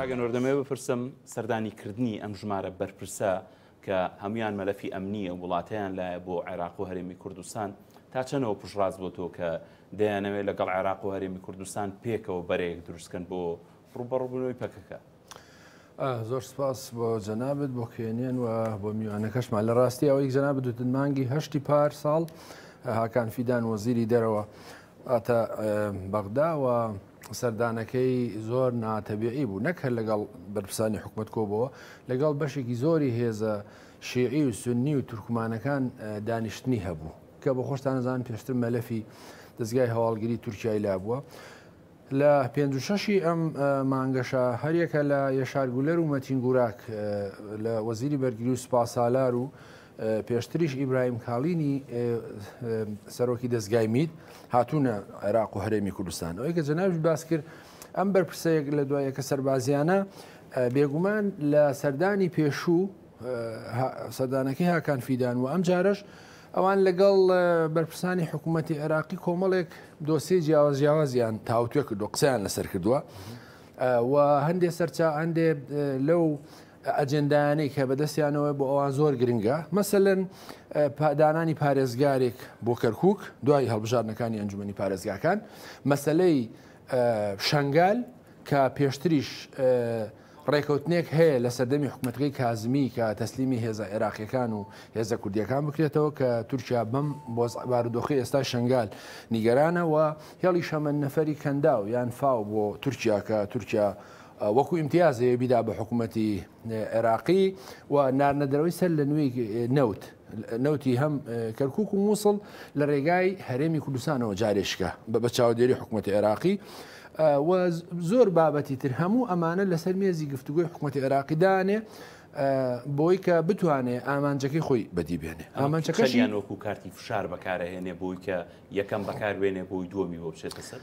کاک ئەنوەر دەمەوێت بپرسم سەردانی کردنی ئەم ژمارە بەرپرسە کە هەموان مەلەفی ئەمنیە وڵاتیان لایە بۆ عێراق و هەرێمی کوردستان تا چەنەوە پشڕاست بۆ تۆ کە دەیانەوێت لەگەڵ عێراق و هەرێمی کوردستان پێکەوە بەرەیەک دروستکەن بۆ ڕوبەڕبوونەوەی پەکەکە زۆر سپاس بۆ جەنابەت بۆ کێنێن و بۆ میوانەکەشمان لە ڕاستی ئەوەی جەنابەت دوتن مانگی هەشتی پار ساڵ هاکان فیدان وەزیری دەرەوە ئەتە بەغداوە سەردانەکەی زۆر ناتەبیعی بوو نەک هەر لەگەڵ بەرپسانی حکوومەت کۆبەوە لەگەڵ بەشێکی زۆری هێزە شیعی و سنی و تورکمانەکان دانیشتنی هەبوو کە بە خۆشتانەزان پێشتر مەلەفی دەستگای هەواڵگری تورکای لا بووە لە پێنج و شەشی ئەم مانگەشا هەریەکە لە یەشار گولەر و مەتین گوراک لە وەزیری بەرگری و سوپاسالار و پێشتریش ئیبراهیم کاڵینی سەرۆکی دەستگای میت هاتوونە عێراق و هەرێمی کوردستان ئەوەی کە جەناویش باس کرد ئەم بەرپرسەیەک لە دوایەکە سەربازیانە بێگومان لە سەردانی پێشوو سەردانەکەی هاکان فیدان و ئەم جارەش ئەوان لەگەڵ بەرپرسانی حکوومەتتی عێراقی کۆمەڵێک دۆسی جیاواز جیاوازیان تاوتوێ کردو قسەیان لەسەر کردووە و هەندێ سەرچا هەندێ لەو ئەجندایانی کە بەدەستیانەوە بۆ ئەوان زۆر گرنگە مەسەن پادانانی پارێزگارێک بۆ کەرکک دوای هەڵبژارنەکانی ئەنجومی پارێزگاکان مەسلەی شنگال کە پێشتریش ڕێکەوتنێک هەیە لە سەردەمی حکومەتەکەی کازمی کە تەسلیمی هێزە عێراقیەکان و هێزە کوردیەکان بکرێتەوە کە تورکیا بەم بۆز بارودۆخی ئێستا شنگال نیگەرانە و هێڵی شەمەند نەفەری کەنداو یان فاو بۆ تورکیا کە تورکیا وەکو ئیمتیازەیە بیدا بە حکوومەتی عێراقی و نارنەدەرەوەی سەر لە نوێی نەوت نەوتی هەم کەرکک و مووسڵ لە ڕێگای هەرێمی کوردستانەوە جارێشکە بە بە چاودێری حکوومەتی عێراقی و زۆر بابەتی تر هەموو ئەمانە لەسەر مێزی گفتوگوی حکوومەتی عێراقی دانێ بۆی کە بتوانێ ئامانجەکەی خۆی بەدی بێنێ ئامانجەکەشیان وەکو کارتی فشار بەکارەهێنێ بۆی کە یەکەم بەکاروێنێ بۆی دووەمی بۆ بچێتە سەر.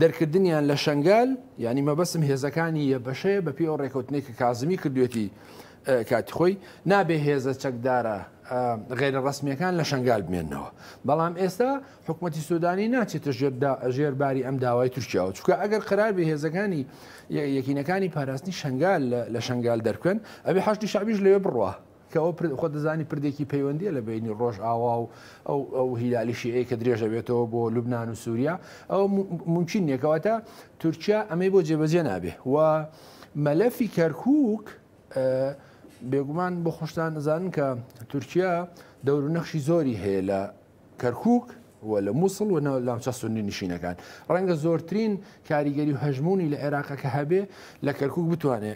دەرکردنیان لە شەنگال، یانی مەبەستم هێزەکانی یەبەشەیە بەپێی ئەو ڕێکەوتنەی کە کازمی کردوێتی کاتی خۆی، نابێ هێزە چەکدارە غەیرە ڕەسمیەکان لە شەنگال بمێنەوە. بەڵام ئێستا حکومەتی سودانی ناچێتە ژێر باری ئەم داوای تورکیاوە، چونکە ئەگەر قەرار بێ هێزەکانی یەکینەکانی پاراستنی شەنگال لە شەنگال دەربکەن، ئەبێ حەشدی شەعبیش لەوێ بڕوا. کە ئەوە پر خۆت دەزانی پردێکی پەیوەندییە لە بەینی ڕۆژئاوا و ئەو ئەو هیلالی شیعەیە کە درێژ دەبێتەوە بۆ لوبنان و سووریا ئەوە م- ممکن نییە کەواتە تورکیا ئەمەی بۆ جێبەجێ نابێ و مەلەفی کەرکووک ئە، بێگومان بۆ خۆشتان ئەزانن کە تورکیا دەور و نەخشی زۆری هەیە لە کەرکووک و لە مووسڵ و ناوچە سوننی نشینەکان. ڕەنگە زۆرترین کاریگەری و هەژموونی لە عێراقە کە هەبێ لە کەرکووک بتوانێ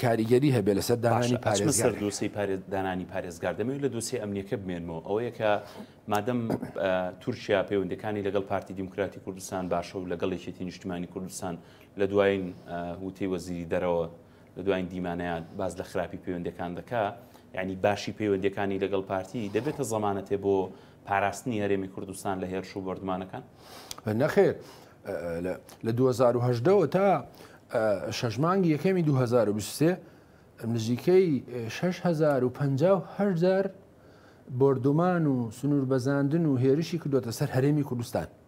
کاریگەری هەبێ لەسەر دانانی پارێزگا لە دووسی دانانی پارێزگار دەمەوێت لە دووسی ئەمنیەکە بمێنمەوە ئەوەیە کە مادەم تورکیا پەیوەندەکانی لەگەڵ پارتی دیموکراتی کوردستان باشە و لەگەڵ یەکێتی نیشتمانی کوردستان لە دوایین وتەی وەزیری دەرەوە لە دوایین دیمانەیان باس لە خراپی پەیوەندەکان دەکا یعنی باشی پەیوەندەکانی لەگەڵ پارتی دەبێتە زەمانەتێ بۆ پاراستنی هەرێمی کوردستان لە هێرش و بردمانەکان نەخێر لە 2010ەوە تا شەشمانگی یەکەمی 2023 نزیکەی 650هزار بردومان و سنوور بەزاندن و هێرشی کردوتە سەر هەرێمی کوردستان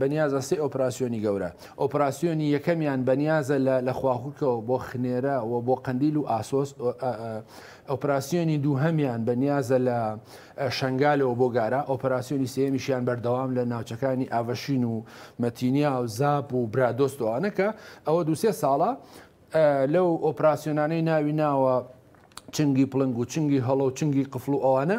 بەنیازە سێ ئۆپراسیۆنی گەورە، ئۆپراسیۆنی یەکەمیان بەنیازە لە لە خواخوکەوە بۆ خنێرە و بۆ قەندیل و ئاسۆس، ئۆپراسیۆنی دووهەمیان بەنیازە لە شەنگالەوە بۆ گارە، ئۆپراسیۆنی سێیەمیشیان بەردەوام لە ناوچەکانی ئاڤشین و مەتینیا و زاپ و برادۆست و ئەوانە کە ئەوە دوو سێ ساڵە لەو ئۆپراسیۆنانەی ناوی ناوە چنگی پڵنگ و چنگی هەڵۆ و چنگی قفڵ و ئەوانە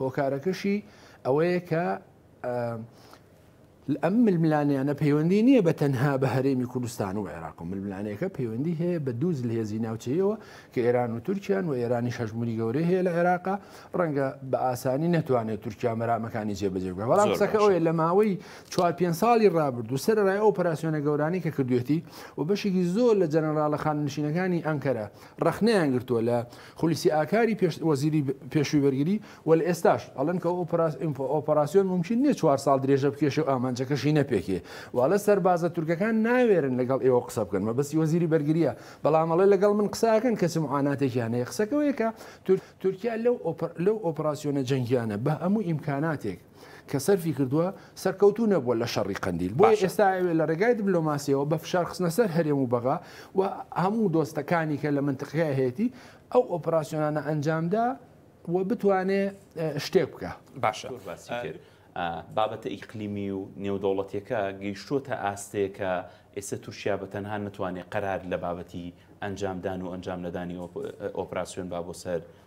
هۆکارەکەشی ئەوەیە کە ئەم ململانیانە پەیوەندی نییە بە تەنها بە هەرێمی کوردستان و عێراق و ململانەکە پەیوەندی هەیە بە دووز لە هێزی ناوچەیەوە کە ئێران و تورکیان و ئێرانی شەژموری گەورەی هەیە لە عێراقا ڕەنگە بە ئاسانی نتوانێت تورکیا مەرامەکانی جێبەجێ بکە بەڵام قسەکە ئەوەیە لە ماوەی چوار پێ ساڵی ڕابرد و سەرڕای ئەو پراسسیۆنە گەورانی کە کردوێتی و بەشێکی زۆر لە جەنەراڵە خاننشینەکانی ئەنکەرە ڕەخنەیان گرتووە لە خولسی ئاکاری وەزیری پێشووی بەرگری و لە ئێستاش ئەڵێن کە ئەو ئۆپەراسیۆن مومکین نیە چوار ساڵ درێژە بکێشێ و ئامانجەکەشی نەپێکێ واڵێ سەربازە تورکەکان ناوێرن لەگەڵ ئێوە قسە بکەن مەبەستی وەزیری بەرگریە بەڵام ئەڵێ لەگەڵ من قسەکەن کەچ معاناتێکیان هەیە قسەکەوەیە کە تورکیا لەو ئۆپەراسیۆنە جەنگیانە بە هەموو ئیمکاناتێک کە سەرفی کردووە سەرکەوتوو نەبووە لە شەڕی قەندیل بۆیە باشە. ئێستا ئەوێ لە ڕێگای دبلۆماسیەوە بە فشار خستنە سەر هەرێم و بەغا و هەموو دۆستەکانی کە لە مەنتقەکە هەیەتی ئەو ئۆپراسیۆنانە ئەنجامدا و بتوانێ شتێک بکا. باشە زۆر باسی کرد بابەتە ئیقلیمی و نێودەوڵەتیەکە گەیشتووەتە ئاستێ کە ئێستا تورکیا بە تەنها نەتوانێ قەرار لە بابەتی ئەنجامدان و ئەنجام نەدانی ئۆپراسیۆن با بۆ سەر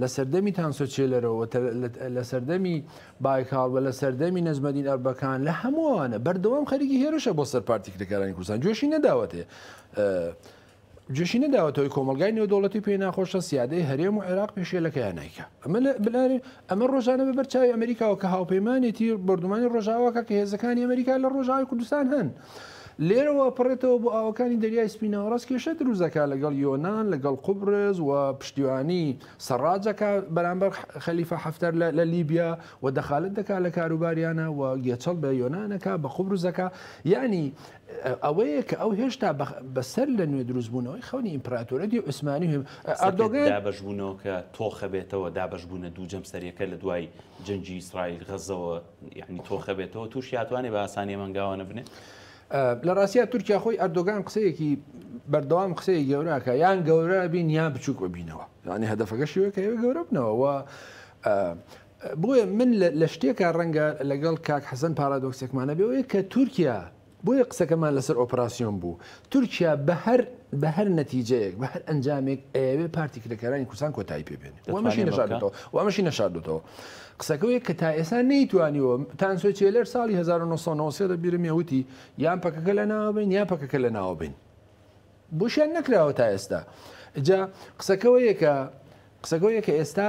لە سەردەمی تانسۆ چێلەرۆ و لە سەردەمی بایکاڵ و لە سەردەمی نەجمەدین ئەربەکان لە هەموو ئەوانە بەردەوام خەریکی هێرشە بۆ سەر پارتی کرێکارانی کوردستان جۆشی نەداوەتێ جوشی نەداوەتەوەی کۆمەلگای نێودوڵەتی پێ ناخۆشە سیادەی هەرێم و عێراق پێشێلەکەیان نیکە ئەمە لە بلارێ ئەمە ڕۆژانە بەبەر چاوی ئەمریکاوە کە هاوپەیمانێتی بردومانی ڕۆژاواکە کە هێزەکانی ئەمریکا لە ڕۆژاوی کوردستان هەن لێرەوە ئەپەڕێتەوە بۆ ئاوەکانی دەریای سپی ناوەڕاست کێشە دروست دەکات لەگەڵ یۆنان لەگەڵ قوبرس و پشتیوانی سەڕاج دەکات بەرامبەر خەلیفە حەفتەر لە لیبیا و دەخالەت دەکات لە کاروباریانە و گێچەڵ بە یۆنان دەکات بە قوبرس دەکات یعنی ئەوەیە کە ئەو هێشتا بەسەر لە نوێ دروست بوونەوەی خەونی ئیمپراتۆرەتی عوسمانی و ئەردۆگان دابەشبوونەوە کە تۆخە بێتەوە دابەشبوونە دوو جەمسەریەکە لە دوای جەنگی ئیسرائیل غەزەوە یعنی تۆخە بێتەوە تووشیا توانێ بە ئاسانی مەنگاوە نەبنێ لە ڕاستە تورکیا خۆی ئەردۆگان قسەیەکی بەردەوام قسەیە گەوراکە یان گەورە بین یا بچووک ببینەوە یعنی هەدەفەکە شوێ کە ئێوە گەورە بنەوە بۆیە من لە شتێکە ڕەنگە لەگەڵ کاک حەزن پارادۆکسێکمانە بێەوەی کە تورکیا بۆیە قسەکەمان لەسەر ئۆپراسیۆن بوو. تورکیا بە هەر بە هەر نەتیجەیەک، بە هەر ئەنجامێک ئەیەوێ پارتی کرێکارانی کوردستان کۆتایی پێ بێنێ و ئەمەشی نەشاردۆتەوە و ئەمەشی نەشاردۆتەوە. قسەکەوێک کە تا ئێستا نەیتوانیوە. تانسۆ چێلەر ساڵی هەزار و نۆ سەد و نەوەد و سێ لە بیرمە وتی یان پەکەکە لەناوە بەین یان پەکەکە لەناوە بەین. بۆشیان نەکراوە تا ئێستا. ئینجا قسەکەوەیە کە قسەکەوەیە کە ئێستا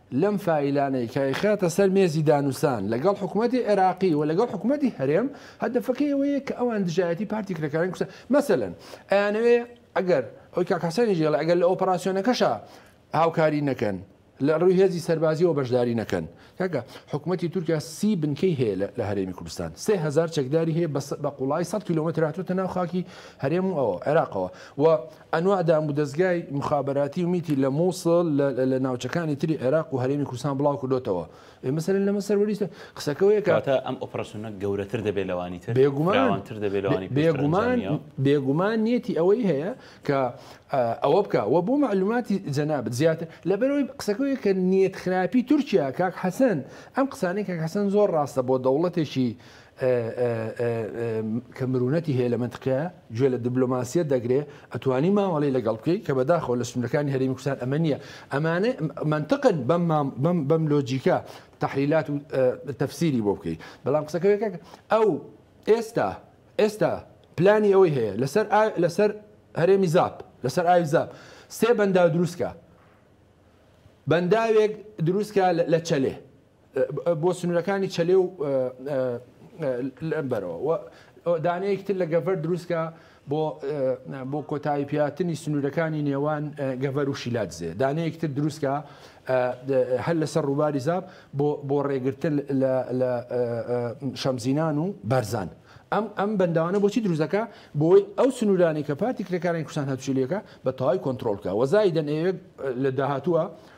لەم فایلانەی کە ئەیخاتە سەر مێزی دانوسان لەگەڵ حکومەتی عێراقی و لەگەڵ حکومەتی هەرێم هەدەفەکەی ئەوەیە کە ئەوان دژایەتی پارتی کرێکارانی کوردستان مەسەلەن ئەیانەوێ ئەگەر ئەوەی کاک حەسەنیش دەڵێ ئەگەر لە ئۆپەراسیۆنەکەشا هاوکاری نەکەن لە ڕووی هێزی سەربازیەوە بەشداری نەکەن کاکە حکوومەتی تورکیا سی بنکەی هەیە لە هەرێمی کوردستان سێ هزار چەکداری هەیە بە قوڵای 100 کیلومتر هاتوتە ناو خاکی هەرێم و ئەوە عێراقەوە و ئەنواع دامودەزگای موخابەراتی و میتی لە موسڵ لە ناوچەکانی تری عێراق و هەرێمی کوردستان بڵاوکردۆتەوە. کەواتە ئەم ئۆپراسیۆنە گەورەتر دەبێت لەوانی تر؟ فراوانتر دەبێت لەوانی پێشتر ئەنجامییەوە؟ بێگومان، بێگومان نیەتی ئەوەی هەیە کە ئەوە بکا. وە بۆ مەعلوماتی جەنابت زیاتر، لەبەرئەوەی قسەکە ئەوەیە کە نیەتخراپی تورکیا، کاک حەسەن، ئەم قسانەی کاک حەسەن زۆر ڕاستە بۆ دەوڵەتێکی کە مرونەتی هەیە لە مەنتقەیا گوێ لە دبلۆماسیەت دەگرێ ئەتوانی مامەڵەی لەگەڵ بکەی کە بەداخەوە لە سنورەکانی هەرێمی کوردستان ئەمە نییە ئەمانە مەنتقن بەم بەم لۆجیکە تەحلیلات و تەفسیری بۆ بکەی بەڵام قسەکەرێکەکە ئەو ئێستا ئێستا پلانی ئەوەی هەیە لەسەر لەسەر هەرێمی زاپ لەسەر ئاوی زاپ سێ بەنداو دروستکە بەنداوێک دروستکە لە چەلێ بۆ سنوورەکانی چەلێ و لەم بەرەوە و دانەیەکی تر لە گەڤەر دروستکە بۆ بۆ کۆتایی پیاتنی سنوورەکانی نێوان گەڤەر و شیلادزێ دانەیەکی تر دروستکە هەر لەسەر ڕووباری زاب بۆ بۆ ڕێگرتن لە شەمزینان و بەرزان. ئەم ئەم بەنداوانە بۆچی دروزەکە بۆی ئەو سنوورانی کە پارتی کرێکارانی کوردستان هەرچیلەکە بە تەواوی کۆنتترۆلکە وەزای دەنێوێت لە داهاتووە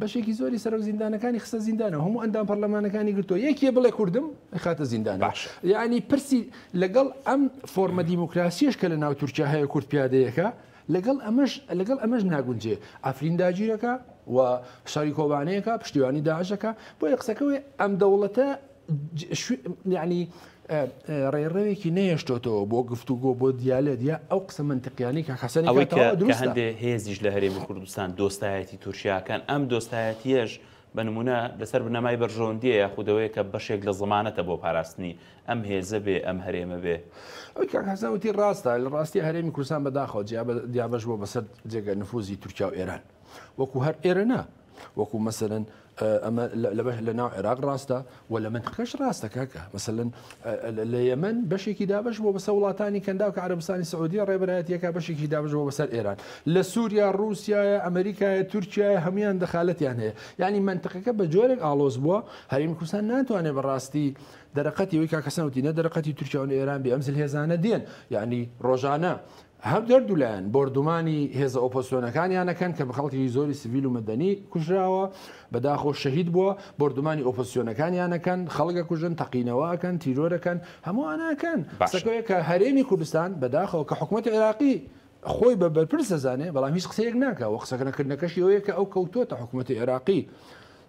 بەشێکی زۆری سەرۆک زیندانەکانی خستە زیندانە هەموو ئەندام پەرلەمانەکانی گرتو یەکێ بڵێ کوردم خاتە زیندان باش یعنی پرسی لەگەڵ ئەم فۆرمە دیموکراسیش کە لە ناو تورکیا هەیە کورد پیادەیەەکە لەگەڵ ئەمەش لەگەڵ ئەمەش ناگونجێ ئەفرین داگیرەکە و شاری کۆبانەیەەکە پشتیوانی داعشەکە بۆ یە قسەکەوێ ئەم دەوڵەتە یانی ڕێڕەوێکی نەهێشتۆتەوە بۆ گفتوگۆ بۆ دیالێت یا ئەو قسە منتەقیانی کە حەسەن ئەوەی کە هەندێ هێزیش لە هەرێمی کوردستان دۆستایەتی تورکیاکان ئەم دۆستایەتیەش بە نمونە لەسەر بنەمای بەرژەوەندیە یاخودەوەی کە بەشێک لە زمانەتە بۆ پاراستنی ئەم هێزە بێ ئەم هەرێمە بێ ئەوکەزەوتی ڕاستە لە ڕاستی هەرێمی کوردستان بەداخەوە جیا دیابش بۆ بەسەر جێگە نفوزی تورکیا و ئێران وەکو هەر ئێرەنا وەکو مەسەرەن ئەمە لە بەش لە ناو عێراق ڕاستە و لە منتقەش ڕاستە کاکە مەسەن لە یەمن بەشێکی دابش بۆ بەسە وڵاتانی کەنداو کە عربستانی سعودیە ڕێبەرایەتەکە بەشێکی دابش بۆ بەسەر ئێران لە سووریا رووسایە ئەمریکایە تورکایە هەمویان دەخالەتیان هەیە یعنی منتقەکە بە جۆرێک ئالۆز بووە هەریم کوردستان ناتوانێت بەڕاستی دەرەقەتی وی کاکەسەوتی نە دەرەقەتی تورکیاون ئێران بێ ئەمزل هێزانە دێن یعنی ڕۆژانە هەردوو لایەن بۆردومانی هێزە ئۆپۆزسیۆنەکانیان ئەکەن کە خەڵکێکی زۆری سڤیل و مەدەنی کوژراوە، بەداخۆ شەهید بووە، بۆردومانی ئۆپۆزسیۆنەکانیان ئەکەن، خەڵک ئەکوژن، تەقینەوە ئەکەن، تیرۆر ئەکەن، هەموو ئەوانە ئەکەن. قسەکە ئەوەیە کە هەرێمی کوردستان بەداخەوە کە حکومەتی عێراقی خۆی بە بەرپرس دەزانێ، بەڵام هیچ قسەیەک ناکا و قسەنەکردنەکەشی ئەوەیە کە ئەو کەوتووەتە حکومەتی عێراقی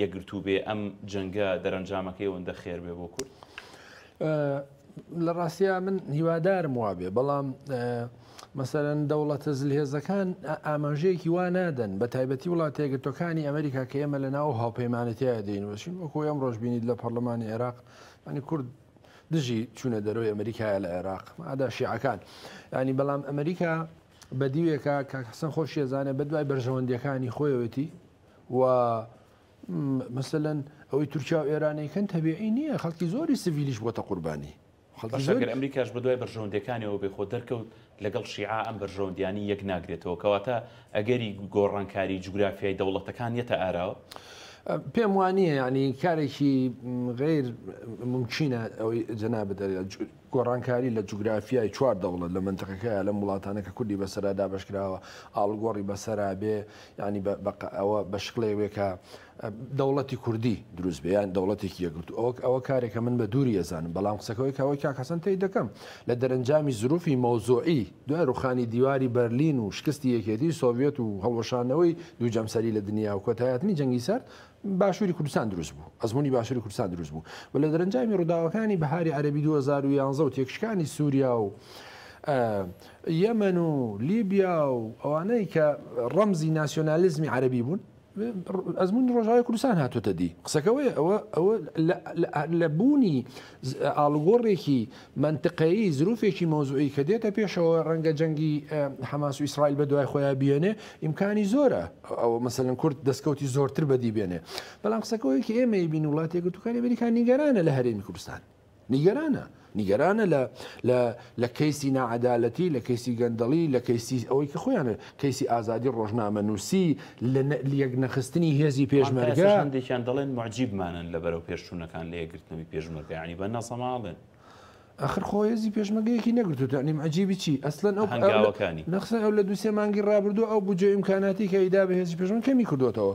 یەکگرتوو بێ ئەم جەنگە دەرەنجامەکەی ئەوەندە خێر بێ بۆ کورد؟ لە ڕاستیا من هیوادارم وابێ بەڵام مەسەرەن دەوڵەتە زلهێزەکان ئاماژەیەکی وا نادەن بە تایبەتی وڵاتێگرتوەکانی ئەمریکا کە ئێمە لە ناو هاوپەیمانەتیایە دەینوەشین وەکو ئەم ڕۆژ بینیت لە پەرلەمانی عێراق ینی کورد دژی چوونە دەرەوەی ئەمریکایە لە عێراق ئادا شیعەکان ینی بەڵام ئەمریکا بە دیوێکە کاکەسن خۆشیێزانێ بە دوای بەرژەوەندیەکانی خۆیەتی و مەسەلەن ئەوەی تورکیا و ئێرانەیکەن تەبیعی نییە خەڵکی زۆری سڤیلیش بۆتە قوربانی خەڵگەر ئەمریکاش بە دوای بەرژەوەندەکانیەوە بێ خۆ دەرکەوت لەگەڵ شیعە ئەم بەرژەوەندیانی یەک ناگرێتەوە کەواتە ئەگەری گۆڕانکاری جوگرافیای دەوڵەتەکان یەتە ئاراوە پێم وانە ینی کارێکی غیر ممکنە ئەوەی جەنا بدەێت گۆڕانکاری لە جوگرافیای چوار دەوڵەت لە مەنتقەکەیا لەم وڵاتانە کە کوردی بەسەرا دابەش کراوە ئاڵوگۆڕی بەسەرا بێ یانی بە بە ئەوە بە شکڵێ وێ کە دەوڵەتی کوردی دروست بێ یان دەوڵەتێکی یەکگرتوو ئەوەک ئەوە کارێکە من بە دووری ئەزانم بەڵام قسەکەوەی کاوەی کاک حەسەن تەی دەکەم لە دەرەنجامی زروفی مەوزوعی دوای ڕوخانی دیواری بەرلین و شکستی یەکێتی سۆڤیەت و هەڵوەشانەوەی دوو جەمسەری لە دنیا و کۆتایهاتنی جەنگی سەرد باشوری کوردستان دروست بوو ئەزمونی باشوری کوردستان دروست بوو و لە دەرەنجامی ڕووداوەکانی بەهاری عەرەبی 2011 و تێکشکانی سوریا و یەمەن و لیبیا و ئەوانەی کە ڕەمزی ناسیۆنالیزمی عەرەبی بوون ئەزمونی ڕۆژاوی کوردستان هاتوتە دی قسەکەوەی ئەوە ئەوە لە بوونی ئاڵوگۆڕێکی مەنتقەیی، زروفێکی مەوزوعی کە دێتە پێشەوە ڕەنگە جەنگی حەماس و ئیسرائیل بە دوای خۆیا بیێنێ، ئیمکانی زۆرە ئەوە مەسەلەن کورد دەسکەوتی زۆرتر بەدی بێنێ. بەڵام قسەکە ئەوەیە کە ئێمە ئەیبینین وڵاتی یەکگرتووەکانی ئەمریکا نیگەرانە لە هەرێمی کوردستان. نیگەرانە. نیگەرانە لە لە لە کەیسی ناعەدالەتی، لە کەیسی گەندەڵی، لە کەیسی ئەوەی کە خۆیان کەیسی ئازادی ڕۆژنامەنووسی لە لەیەکنەخستنی هێزی پێشمەرگە. هەندێکیان دەڵێن موعجیبمانن لە بەرەوپێشچوونەکان لە یەکگرتنەوەی پێشمەرگە یانی بە نەزەماڵێن. ئەخر خۆ هێزی پێشمەگەیەکی نەگرتووت یانی موعجیبی چی؟ ئەسلەن ئەو هەنگاوەکانی. نەخسەن ئەو لە دوو سێ مانگی ڕابردوو ئەو بودجە و ئیمکاناتی کە ئەیدا بە هێزی پێشمەرگە کەمی کردووەتەوە.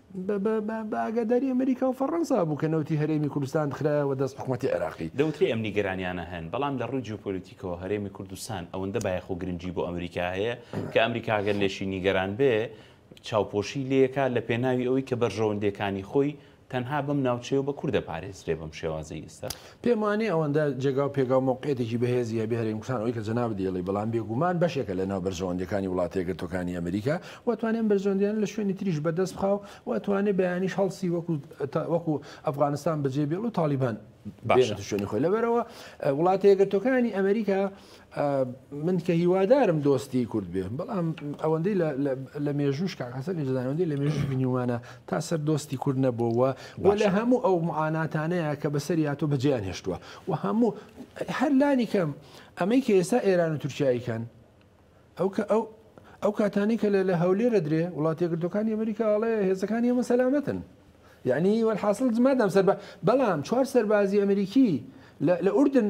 بە ئاگاداری ئەمریکا و فەڕەنسا بوو کە نەوتی هەرێمی کوردستان خرایەوە دەست حکومەتی عێراقی. دەوترێ ئەم نیگەرانیانە هەن، بەڵام لە ڕووی جیۆپۆلیتیکەوە هەرێمی کوردستان ئەوەندە بایەخ و گرنگی بۆ ئەمریکا هەیە کە ئەمریکا ئەگەر لێشی نیگەران بێ چاوپۆشی لێ ئەکا لە پێناوی ئەوەی کە بەرژەوەندیەکانی خۆی تەنها بەم ناوچەیەو بە کورد ئەپارێزرێ بەم شێوازەی ئیستا. پێم وانیە ئەوەندە جێگاو پێگاو مەوقعیەتێکی بەهێزی هەبێ هەرێم کوردستان ئەوەی کە جەنابت دەیڵێی بەڵام بێگومان بەشێکە لە ناو بەرژەوەندیەکانی وڵاتە یەکگرتوەکانی ئەمریکا و ئەتوانێ ئەم بەرژەوەندیانە لە شوێنی تریش بەدەست بخا و ئەتوانێ بەیانیش هەڵسی وەکو وەکو ئەفغانستان بەجێ بێڵ و تاڵیبان بێنێتە شوێنی خۆی لەبەرئەوە وڵاتە یەکگرتوەکانی ئەمریکا من کە هیوادارم دۆستی کورد بێ بەڵام ئەوەندەی لە مێژووش کاک حەسەن ئێجدانەوەندەی لە مێژوش بینیومانە تا سەر دۆستی کورد نەبووەوە بۆ لە هەموو ئەو معاناتانەیە کە بەسەری هاتۆ بەجیان هێشتووە و هەموو هەر لانی کەم ئەمەی کە ئێستا ئێران و تورکیاییکەن ئەو کە ئەو ئەو کاتانی کە لە هەولێرە درێ وڵاتی گردەکانی ئەمریکا ئەڵێ هێزەکانی ئەمە سەلامەتن یعنی وەحاصل مادام سەر بەڵام چوار سەربازی ئەمریکی لە ئوردن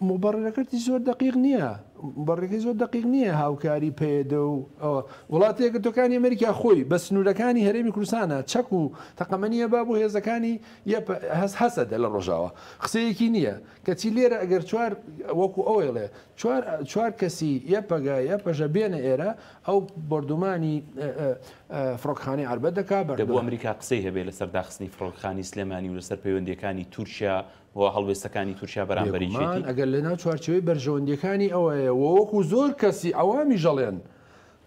مبررەکەتی زۆر دەقیق نیە مبررەکەی زۆر دەقیق نیە هاوکاری پەیەدە و ئەوە وڵاتی یەکگرتوەکانی ئەمریکا خۆی بە سنورەکانی هەرێمی کوردستانە چەک و تەقەمەنیە با بۆ هێزەکانی یەپ هەس هەسەدە لە ڕۆژاوا قسەیەکی نیە کەچی لێرە ئەگەر چوار وەکو ئەوەیڵێ چوار چوار کەسی یەپەگە یەپەژە بێنە ئێرە ئەو بۆردومانی فڕۆکەخانەی عەربەت دەکا بەر دەبوو ئەمریکا قسەی هەبێ لەسەر داخستنی فڕۆکەخانی سلێمانی و لەسەر پەیوەندیەکانی تورکیا و هەڵوێستەکانی تورکیا بەرامبەر یەکێتی. بێگومان ئەگەر لەناو چوارچێوەی بەرژەوەندییەکانی ئەوەیە و وەکو زۆر کەسی عەوامیش ئەڵێن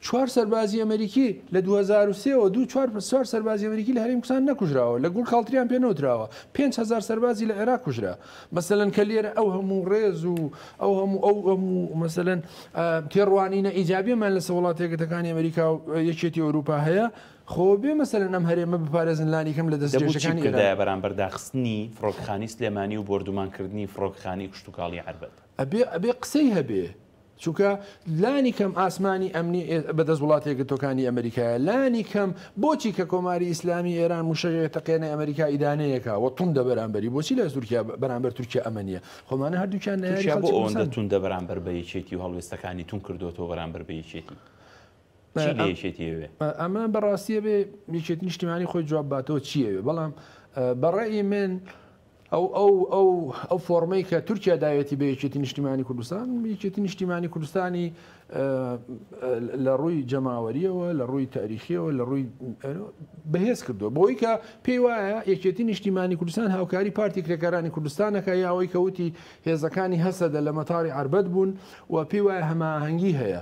چوار سەربازی ئەمەریکی لە دوو هەزار و سێ وە دوو چوار چوار سەربازی ئەمەریکی لە هەرێم کوسان نەکوژراوە لە گوڵ کاڵتریان پێ نەوتراوە پێنج هەزار سەربازی لە عێراق کوژرا مەسەلەن کە لێرە ئەو هەموو ڕێز و ئەو هەموو ئەو هەموو مەسەلەن تێڕوانینە ئیجابیەمان لەسە وڵاتە یەکگرتەکانی ئەمەریکا و یەکێتی ئەوروپا هەیە خۆ بێ مەسەلەن ئەم هەرێمە بپارێزن لانی کەم لە دەست جێشەکانی ئێران. دەبوو چی بکردایە بەرامبەر داخستنی فڕۆکەخانی سلێمانی و بۆردومان کردنی فڕۆکەخانی کشتوکاڵی عەربەت؟ ئەبێ ئەبێ قسەی هەبێ. چونکە لانی کەم ئاسمانی ئەمنی ئێ بە دەست وڵاتە یەکگرتووەکانی ئەمریکایە. لانی کەم بۆچی کە کۆماری ئیسلامی ئێران مووشەک ئەتەقێنێ ئەمریکا ئیدانەیەکا و توندە بەرامبەری بۆچی لای تورکیا بەرامبەر تورکیا ئەمە نییە؟ خۆ ئەمانە هەردووکیان نەیاری تورکیا بۆ خەڵکی ئەوەندە کوردستان. توندە بەرامبەر بە یەکێتی و هەڵوێستەکانی توند کردۆتەوە بەرامبەر بە یەکێتی؟ چی لە یەکێتی ئەوێ؟ ئەمە بە ڕاستی ئەبێ یەکێتی نیشتیمانی خۆی جواب باتەوە چی ئەوێ، بەڵام بە ڕەئی من ئەو ئەو ئەو ئەو فۆڕمەی کە تورکیا داوێتی بە یەکێتی نیشتیمانی کوردستان یەکێتی نیشتیمانی کوردستانی لە ڕووی جەماوەریەوە لە ڕووی تاریخیەوە لە ڕووی بەهێز کردو بۆی کە پێی وایە یەکێتی نیشتیمانی کوردستان هاوکاری پارتی کرێکارانی کوردستانەکە یاوەی کەوتی هێزەکانی هەسەدە لە مەتاری عربەت بوون و پێی وایە هەماهەنگی هەیە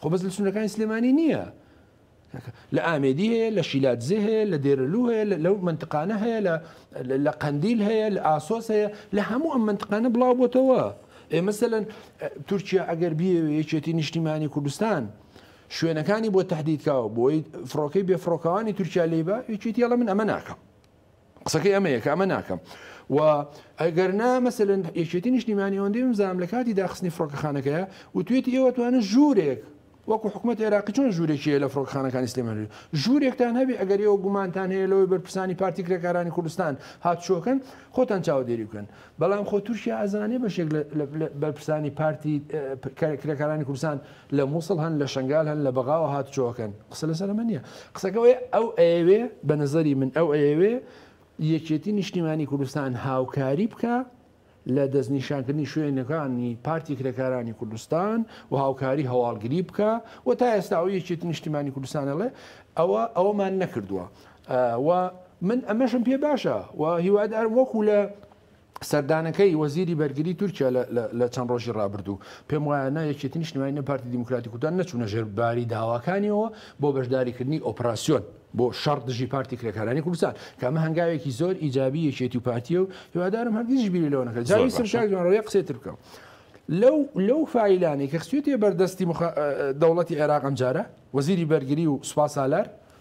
خۆ بەس لە سنوورەکانی سلێمانی نییە، لە ئامێدی هەیە، لە شیلادزێ هەیە، لە دێرەلوو هەیە، لەو مەنتقانە هەیە، لە قەندیل هەیە، لە ئاسۆس هەیە، لە هەموو ئەم مەنتقانە بڵاو بۆتەوە. ئێ مەسەن تورکیا ئەگەر بیەوێ یەکێتی نیشتیمانی کوردستان شوێنەکانی بۆ تهدیدکاوە بۆی فڕۆکەی بێفڕۆکەوانی تورکیا لی بە یەکێتی هەڵە من ئەمە ناکەم. قسەکەی ئەمەیە کە ئەمە ناکەم و ئەگەرنا مەسەن یەکێتی نیشتیمانی ئەوەندەی بزانام لە کاتی داخستنی فڕۆکەخانەکەیە و توێتی ئێوە توانن ژوورێک وەکو حکوومەت عێراقی چۆن ژوورێکیە لە فڕۆکخانەکانی سلێمانی ژوورێکتان هەبێ ئەگەر ئەوە گومانتان هەیە لەوەی بەرپرسانی پارتی کرێکارانی کوردستان هاتچۆکن خۆتان چاوەدێری بکەن بەڵام خۆ تورکیا ئەزانێ بەشێک لە بەرپرسانی پارتی کرێکارانی کوردستان لە موسڵ هەن لە شەنگال هەن لە بەغاوە هاتوچۆکەن قسە لەسەر ئەمە نییە قسەکە ئەوەیە ئەو ئەیەوێ بە نەزەری من ئەو ئەیەوێ یەکێتی نیشتیمانی کوردستان هاوکاری بکە لە دەستنیشانکردنی شوێنەکانی پارتی کرێکارانی کوردستان و هاوکاری هەواڵگری بکە و تا ئێستا ئەو یەکێتی نیشتیمانی کوردستانەڵێ ئەوە ئەوەمان نەکردووە و من ئەمەشم پێ باشە و هیوادارم وەکو لە سەردانەکەی وەزیری بەرگری تورکیا لە چەند ڕۆژی ڕابردوو پێم وایە نە یەکێتی نیشتمانی نە پارتی دیموکراتی کوردان نەچوونە ژێر باری داواکانیەوە بۆ بەشداریکردنی ئۆپراسیۆن بۆ شەڕ دژی پارتی کرێکارانی کوردستان کە ئەمە هەنگاوێکی زۆر ئیجابی یەکێتی و پارتیە و هیوادارم هەرگیزیش بیری لەوە نەکەن جاوی سەرشاک جوانڕەوەی قسەی تر بکەم لەو لەو فایلانەی کە خستوێتە بەردەستی دەوڵەتی عێراق ئەمجارە وەزیری بەرگری و سوپا سالار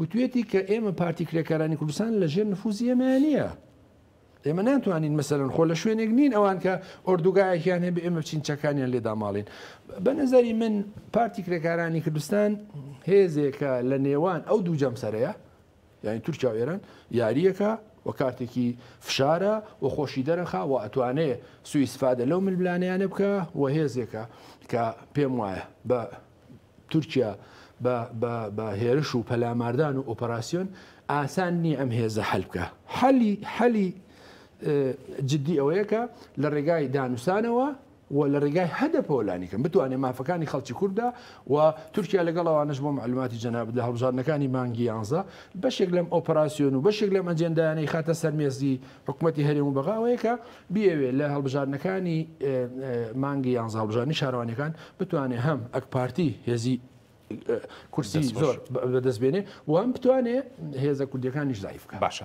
وتویەتی کە ئێمە پارتی کرێکارانی کوردستان لە ژێر نفوزی ئێمەیان نییە. ئێمە ناتوانین مەسەرەن خۆ لە شوێنێک نین ئەوان کە ئۆردوگایەکیان هەبێ ئێمە بچین چەکانیان لێ داماڵین بە نظری من پارتی کرێکارانی کوردستان هێزێکە لە نێوان ئەو دوو جەمسەرەیە یعنی تورکیا و ئێران یاریەکە و کارتێکی فشارە و خۆشی دەرەخا و ئەتوانێ سوئیسفادە لەو ملبلانیانە بکە و هێزێکە کە پێم وایە بە تورکیا بە هێرش و پەلاماردان و ئۆپەراسیۆن ئاسان نییە ئەم هێزە حەل بکا. حەلی جدی ئەوەیە کە لە ڕێگای دانوسانەوە و لە ڕێگای هەدەپەوە لانیکەم بتوانێ مافەکانی خەڵکی کوردە و تورکیا لەگەڵ ئەوانەش بۆ مەعلوماتی جەنابت لە هەڵبژاردنەکانی مانگی یانزە بەشێک لەم ئۆپەراسیۆن و بەشێک لەم ئەجێندایانە ئیخاتە سەر مێزی حکومەتی هەرێم و بەغا ئەوەیە کە بیەوێ لە هەڵبژاردنەکانی مانگی یانزە هەڵبژاردنی شارەوانیەکان بتوانێ هەم ئەکپارتی هێزی کورسی زۆر بەدەست بێنێ وام بتوانێ هێزە کوردیەکانیش زعیف بکە باشە.